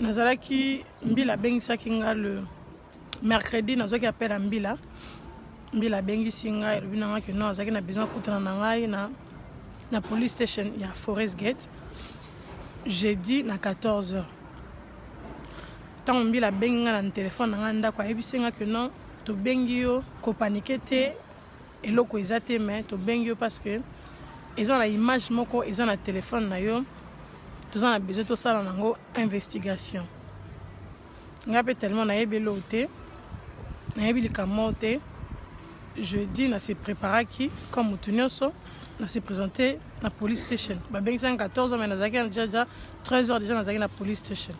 nazalaki mbila abengisaki nga le mercredi nazwaki appel ya mbila mbila abengisi ngai elobi na ngai ke non azalaki na besoin akutana na ngai na, na police station ya forest gate jeudi na 14 heures ntango mbila abengi ngai na telefone na ngai ndako ayebisi ngai ke non tobengi yo kopanike te Eloko eza te mais tobengi yo parce que eza na image moko eza na telephone na yo toza na besoin tosala nango investigation ngai mpe tellement nayebi eloo te nayebi likambo te jeudi na se préparaki comme motu nyonso na se présente na police station babengisaki 14 heures mais nazalaki deja deja 13 heures deja nazalaki na police station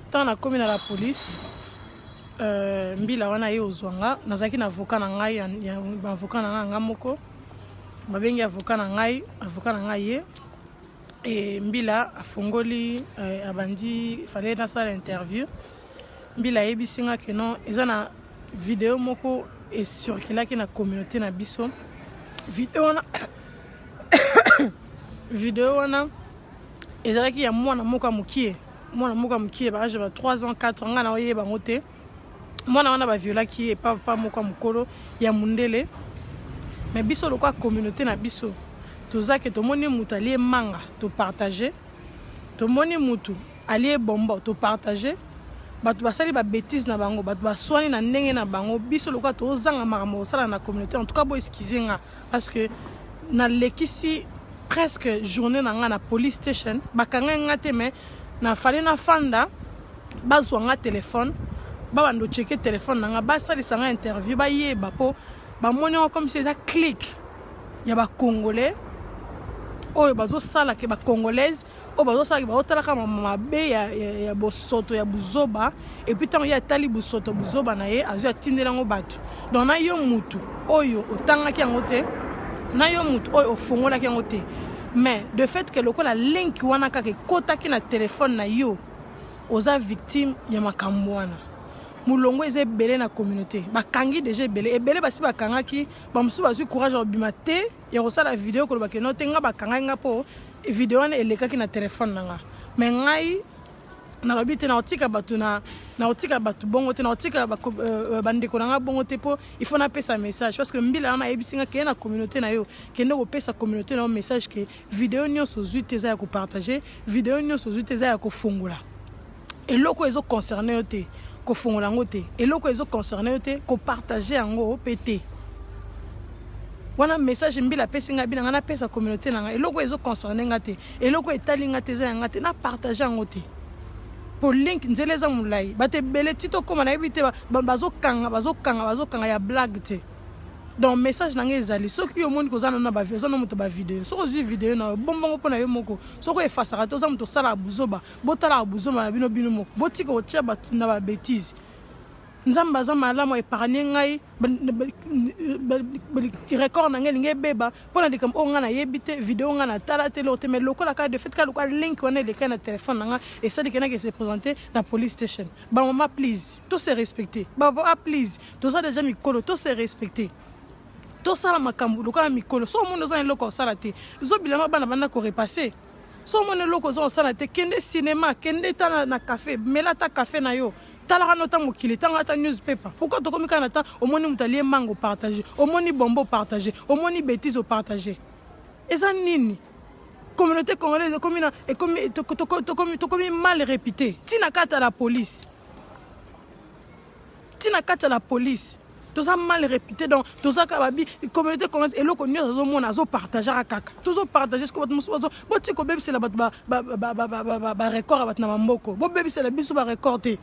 ntango nakomi na la police Euh, mbila wana ye ozwa nga nazalaki na avocat na ngai baavocat na ngai nga moko babengi avocat na ngai avocat na ngai ye e mbila afongoli eh, abandi fale nasala interview mbila ayebisi nga ke non eza na video moko esurkilaki na communauté na biso video wana video wana ezalaki ya mwana moko ya mokie mwana moko ya mokie ba age ya ba 3 ans 4 ans ngai na oyeba yango te mwana wana baviolaki ye epa papa moko ya mokolo ya mundele me biso lokola communauté na biso toza ke tomoni moto alie manga topartage tomoni moto alie bombo topartage bato basali babétise na bango bato baswani na ndenge na bango biso lokola tozanga makambo kosala na communauté en tout cas boeskize nga Parce que na lekisi presque journée na nga na police station bakanga nga te mais na fallait na fanda bazwa nga téléphone babanda ocheke téléphone na nga basalisa nga interview bayeba mpo bamoni yango comme si eza clique ya bacongolais oyo bazosala ke bacongolaise oyo bazosalaki bazotalaka mabe ya, ya, ya bosoto ya buzoba epuis ntango ye atali bosoto buzoba na ye azwi atindela yango bato donc na yo mutu oyo otangaki yango te na yo mutu oyo ofongolaki yango te mais de fait ke lokola link wana kaka ekotaki na telefone na yo oza victime ya makambo wana molongo eza ebele na communauté bakangi deja ebele ebele basi bakangaki bamosusu bazwi courage ya kobima te ya kosala video koloba ke no te nga bakangai nga po video wana elekaki na telefone na nga me ngai nalobi te nakotika bato na nakotika bato bongo te nakotika euh, euh, bandeko na ngai bongo te mpo il faut napesa message parce que mbila wana ayebisi ngai keye na communauté na yo kende kopesa communauté na yo message ke video nyonso ozwi te eza ya kopartage video nyonso ozwi te eza ya kofungola Eloko ezo concerner yo te kofongola yango te eloko ezo concerner yo te ko partager yango pe te wana message mbila apesi ngai bina ngai napesa communauté na ngai eloko ezo concerne ngai te eloko etali ngai te eza ya ngai te na partage yango te mpo link nzela eza molai bato ebele ti tokóma nayebi te bazokanga bazokanga bazokanga ya blague te donc message na ngai ezali soki yo omoni koza nano oza na moto bavideo soki ozwi video na yo bombongo mpo na yo moko soki efasaka te oza moto osalaka buzoba botalaka buzoma na bino bino moko botika kotia bato na ba betise nzambe aza malamu epargne ngai record na ngai elingi ebeba mpo na likambo oyo ngai nayebi te video ngai natala te eloko te mai lokola kaka de fait kaka lokola link wana elekai na telefone na ngai esali ke nake se présente na police station bamama please to se respecte bapapa please toza deja mikolo to se respecte tosala makambo lokola mikolo so omoni oza na eloko ya kosala te zobilama bana banda korepasse so omoni eloko oza kosala te kende cinema kende ta na, na cafe mela ata cafe na yo talaka no ta mokili tanga ata newspaper pourquoi tokomi kaka na temps omoni moto alie mango partage omoni bombo partage omoni betise opartage eza nini communauté congolaise ekomi na ekomi tokomi mal réputé ntina kata la police ti na kati ya la police toza mal repute donc toza kaka babi communauté congolaise eloko nyonso azomona azopartagaka kaka tozopartage siko bato mosusu boti kobebisela bato barecord ya bato na bamboko bobebisela biso barecord te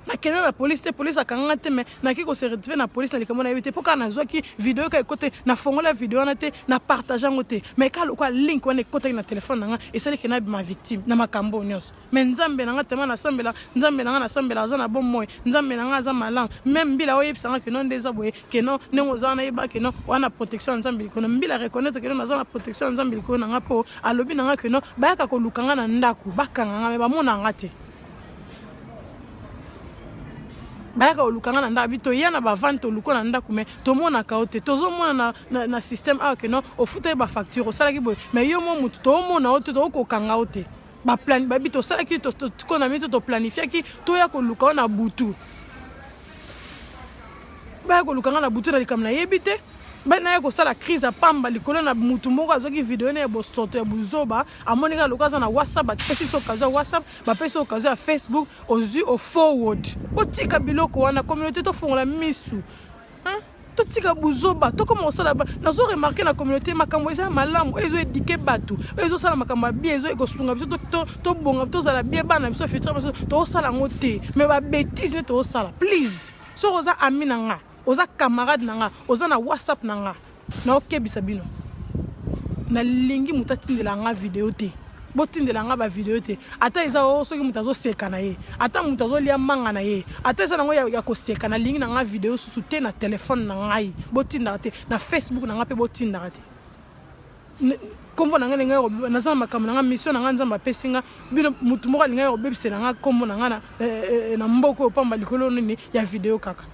nakende na polise te polise akanganga te mai naki kose retrouve na polise na likambo nayebi te mpo kaka nazwaki video kaka ekote nafongola video wana te na partage yango te mai kaka lokola link wana ekotaki na telefone na nga esaliki nabima victime na makambo oyo nyonso Mais nzambe nanga tellement na sambela nzambe nanga na sambela aza na bon moi nzambe nanga aza malang même mbila oye bisanga que non ndeza boye que non nengo oza na yeba que non wana protection nzambe likono mbila reconnaître que non aza na protection nzambe likono nanga po alobi nanga que non bayaka ko lukanga na ndaku bakanga nga mais ba mona nga te bayaka oluka nga na ndako bi toya na bavane toluka na ndako mai tomonaka yo te tozomona na, na, na système awa ah, ke non ofutaki bafacture osalaki boye mai yo mwa motu toomona yo te tokokanga yo te baplan babi tosalaki tiko na mito toplanifiaki toya koluka wana butu baya koluka nga na butu na likambo nayebi te naya kosala crise ya pamba likolo na motu moko azwaki video na ya bosoto ya buzoba amoni kaka lokola aza na whatsapp bapesi biso okazo ya whatsapp bapesi okazo ya facebook ozwi ofoward otika biloko wana communauté tofongola misu Hein? totika buzoba tokoma kosala nazo remarke na communauté makambo eza malamu ezo edike bato ezo sala makambo ya bie ezo ekosunga biso tobonga tozala bie bana biso futur biso tozosala yango te mais babétise nde tozosala please soki oza ami na nga oza camarade na nga oza na whatsapp na nga Naokebisa bino nalingi moto atindela nga video te botindela nga bavideo te ata eza o oh, soki moto azoseka na ye ata moto azolia manga na ye ata eza nango ya, ya koseka nalingi na nga video susu te na telefone na ngai botindaka te na facebook na ngai mpe botindaka te nkombo na ngai ndenge naza na makambo na ngai mission na ngai nzambe apesi ngai bino motu moko alingaki kobebisela ngai nkombo na ngai na eh, eh, eh, mboka oyo pamba likolo nini ya video kaka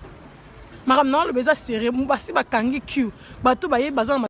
makambo na oloba eza serieux basi bakangi q bato baye baza na